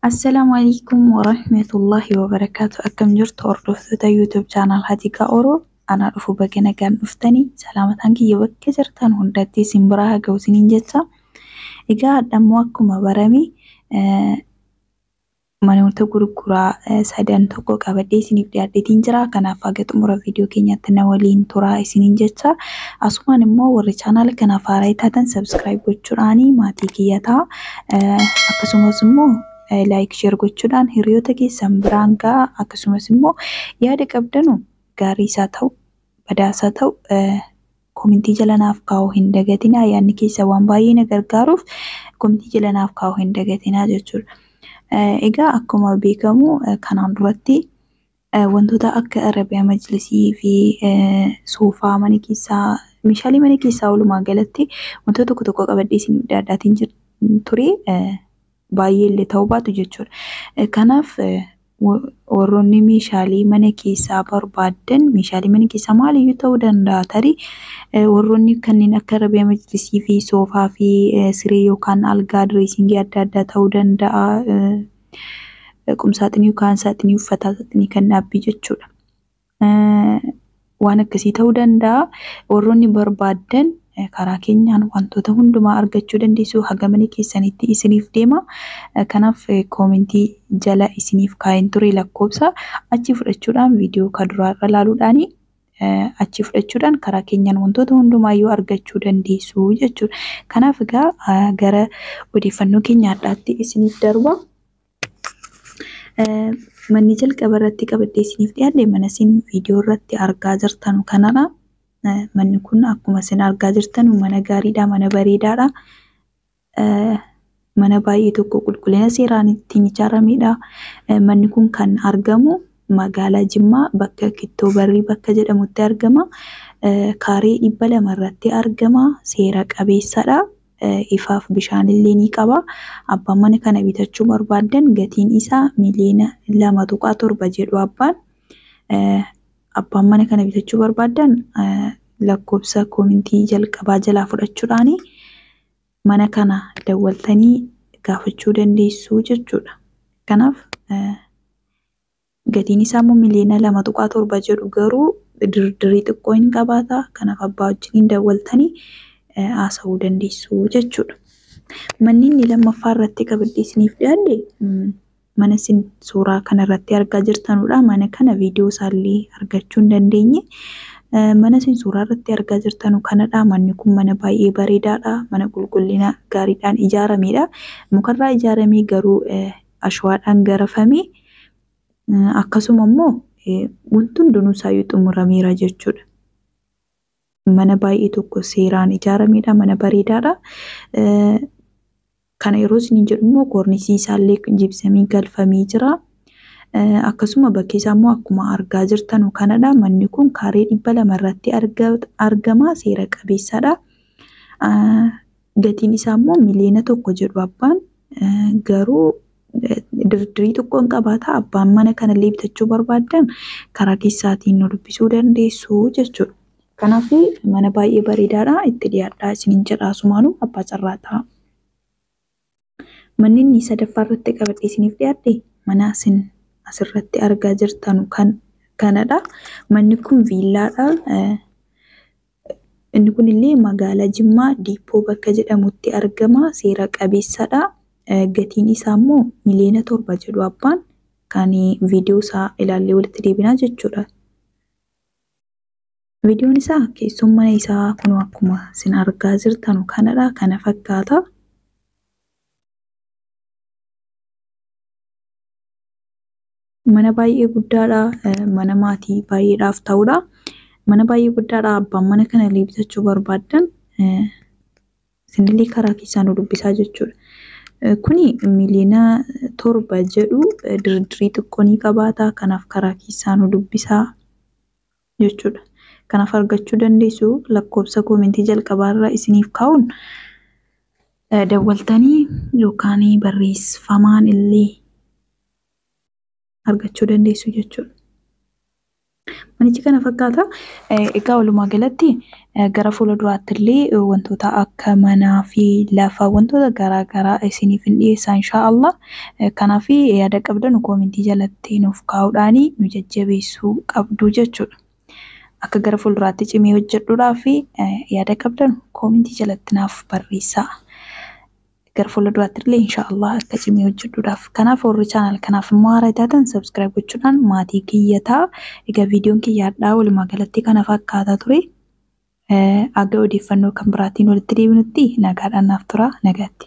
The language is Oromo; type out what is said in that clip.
Assalaamu alaikum warahmatullahi wabarakaatu akkam jirtu hordoftoota yuutuub chaanaal Hatiiqaa Oroo anaa dhufu baga nagaan dhuftanii salaamataan kiyya bakka jirtan hundatti isin biraa haa ga'u isiniin jecha egaa hadhammoo akkuma barame manoota gurguraa sadan tokko qabadhee isiniif dhiyaadheetiin jira. Kanaaf haga xumura viidiyoo keenyaatti na waliin turaa isiniin jecha. Asumaan immoo warri chaanaala kanaaf haaraa taatan sabskiraayib gochuudhaan maatii kiyya ta'a. Akkasumas immoo laayik sheer gochuudhaan hiriyoota keessan biraan ga'a. Akkasumas immoo yaada qabdanu gaarii isaa ta'u badaasaa ta'u Komentii jala naaf kaa'uu hin dagatinaa yaadni keessan waan baay'ee na gargaaruuf komentii jala naaf kaa'uu hin dagatinaa jechuudha. Egaa akkuma beekamu kanaan duratti wantoota akka Arabiyaa Majlisii fi soofaa mana keessaa meeshaalee mana keessaa walumaa galatti wantoota tokko tokko qabadhee isiniif dhiyaadhaatiin ture. baay'ee illee ta'uu baatu jechuudha. Eh, Kanaaf eh, wa- warroonni meeshaalee mana keessaa barbaaddan meeshaalee mana keessaa maaliyyuu ta'uu danda'a tarii eh, warroonni kanneen akka rabee majlisii fi soofaa fi eh, siree yookaan algaa direesingii adda addaa ta'uu danda'a. eh, eh, Qumsaaxinii yookaan saaxinii uffataa saaxinii kan dhaabbii jechuudha. Waan akkasii ta'uu danda'a. Warroonni barbaaddan karaa keenyaan wantoota hundumaa argachuu dandeessu. Haga mana keessanitti isiniif deema. Kanaaf koomentii jala isiniif kaa'een ture lakkoofsa achi fudhachuudhaan viidiyoo ka duraarra laaluudhaan achi fudhachuudhaan karaa keenyaan wantoota hundumaayyuu argachuu dandeessu jechuudha. Kanaaf egaa gara odeeffannoo keenya har'aatti isiniif darba. Manni jalqaba irratti qabadhee isiniif dhiyaadhe mana isin viidiyoo irratti argaa jirtan kanadha. Manni kun akkuma isin argaa jirtan mana gaariidha, mana bareedaadha. Mana baay'ee tokko qulqullina seeraan ittiin ijaaramedha. Manni kun kan argamu magaalaa Jimmaa bakka Kittoo Barrii bakka jedhamutti argama. Kaaree dhibba lama irratti argama. Seera qabeessadha. ifaaf bishaan illee ni qaba. Abbaan mana kana bitachuu barbaaddan gatiin isaa miliyoona lama tuqaa torba jedhu abbaan. Abbaan mana kana bitachuu barbaaddan lakkoofsa koomintii jalqabaa jalaa fudhachuudhaan mana kana dawwaltanii gaafachuu dandeessuu jechuudha. Kanaaf Gatiin isaa immoo miliyoona 2.7 jedhu garuu dirdirii xiqqoo hin qabaata. Kanaaf abbaa wajjiniin dawwaltanii haasa'uu dandeessu jechuudha. Manni inni lammaffaa irratti qabiddee isiniif dhiyaadhe mana isin suuraa kana irratti argaa jirtanudha. Mana kana viidiyoo isaallee argachuu hin dandeenye. Mana isin suuraa irratti argaa jirtanu kanadha. Manni kun mana baay'ee bareedaadha. Mana qulqullina gaariidhaan ijaaramedha. Mukarraa ijaaramee garuu ashawaadhaan garafame akkasuma immoo wanti hundinuu isaayyuu xumurameera jechuudha. Mana baay'ee tokko seeraan ijaarameedha, mana bareedaadha. Kana yeroo isiniin jedhu immoo koornisii isaallee jibsamii galfamee jira. Akkasuma bakki isaa immoo akkuma argaa jirtanu kanadha. Manni kun kaaree dhibba lama irratti argama, seera qabeessadha. Gatiin isaa immoo miliyoona tokko jedhu abbaan garuu dirdirii xiqqoo hin qabaata abbaan mana kanallee bitachuu barbaaddan karaa keessaatiin nu dubbisuu dandeessu jechuudha. Kanaaf mana baay'ee bareedaadha itti dhiyaadhaa isinin jedha asumaanuu abbaa carraa ta'a. Manni inni sadaffaa irratti qabadhee isiniif dhiyaadhe mana isin asirratti argaa jirtanu kan kanadha. Manni kun viillaadha. Inni kun illee magaalaa Jimmaa Diippoo bakka jedhamutti argama. Seera qabeessadha. Gatiin isaa immoo miliyoona torba jedhu abbaan kan viidiyoo isaa ilaallee walitti deebinaa jechuudha. Videon isaa keessoon mana isaa kunoo akkuma sin argaa jirtanu kanadha kana fakkaata. Mana baay'ee guddaadha. Mana maatii baay'eedhaaf ta'udha. Mana baay'ee guddaadha. Abbaan mana kana illee bitachuu barbaaddan isinillee karaa keessaan nu dubbisaa jechuudha. Kuni miliyoona torba jedhu dirdirii xiqqoo ni qabaata. Kanaaf karaa keessaa nu dubbisaa. jechuudha. Kanaaf argachuu dandeessu lakkoofsa koomentii jalqabaa irra isiniif kaa'uun dawwaltanii yookaan barreeffamaan illee argachuu dandeessu jechuudha. Manichi kana fakkaata. Egaa walumaa galatti Gara fuula duraatti illee wantoota akka manaa fi lafa wantoota garaa garaa isiniif hin dhiyeessaa inshaa Allah. Kanaaf yaada qabdanu koomentii jalatti nuuf kaa'uudhaan nu jajjabeessuu qabdu jechuudha. Akka gara fuulduraatti cimee hojjedhuudhaaf yaada qabdanu koomentii jalatti naaf barreessaa. gara fuula duraatti illee inshaallah akka cimee hojjedhuudhaaf kanaaf warri chaanal kanaaf immoo haaraa taatan sabskiraayib gochuudhaan maatii kiyya ta'a egaa viidiyoon kiyya hadhaa walumaa galatti kana fakkaataa ture aga odeeffannoo kan biraatiin walitti deebinutti nagaadhaan naaf tura nagaatti.